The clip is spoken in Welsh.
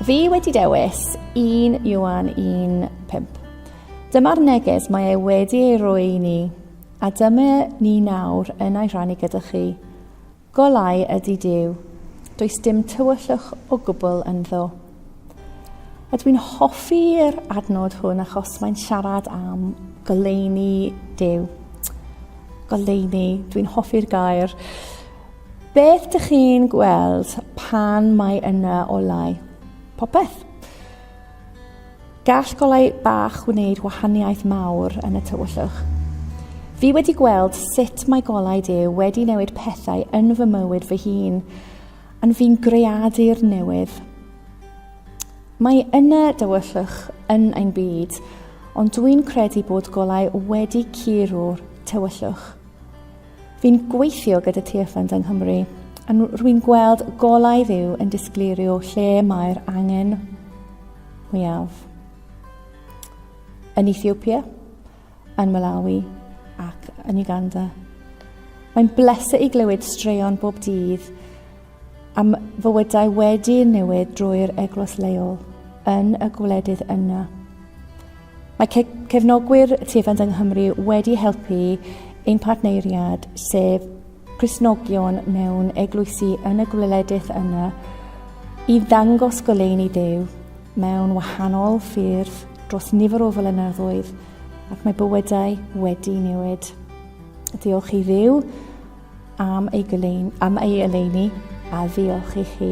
Fi wedi dewis 1 Iwan 1.5. Dyma'r neges mae e wedi ei roi i ni, a dyma ni nawr yn ei rhannu gyda chi. Golau ydy Duw. Does dim tywyllwch o gwbl ynddo. A dwi'n hoffi'r adnod hwn achos mae'n siarad am goleuni Duw. Goleuni, dwi'n hoffi'r gair. Beth dych chi'n gweld pan mae yna olau? Popeth. Gall golau bach wneud wahaniaeth mawr yn y tywyllwch. Fi wedi gweld sut mae golau Duw wedi newid pethau yn fy mywyd fy hun, yn fi'n greadur newydd. Mae yna dywyllwch yn ein byd, ond dwi'n credu bod golau wedi curo'r tywyllwch. Fi'n gweithio gyda Tearfund yng Nghymru a rwy'n gweld golau Dduw yn disgleirio lle mae'r angen mwyaf. Yn Ethiopia, yn Malawi ac yn Uganda. Mae'n bleser i glywed straeon bob dydd Am fywydau wedi newid drwy'r eglwys leol yn y gwledydd yna. Mae ce cefnogwyr Tiefend yng Nghymru wedi helpu ein partneiriad, sef Crisnogion mewn eglwysi yn y gwledydd yna, i ddangos goleuni Duw mewn wahanol ffyrdd dros nifer o flynyddoedd, ac mae bywydau wedi newid. Diolch i Dduw, am ei goleun, am ei oleuni, a ddiolch i chi.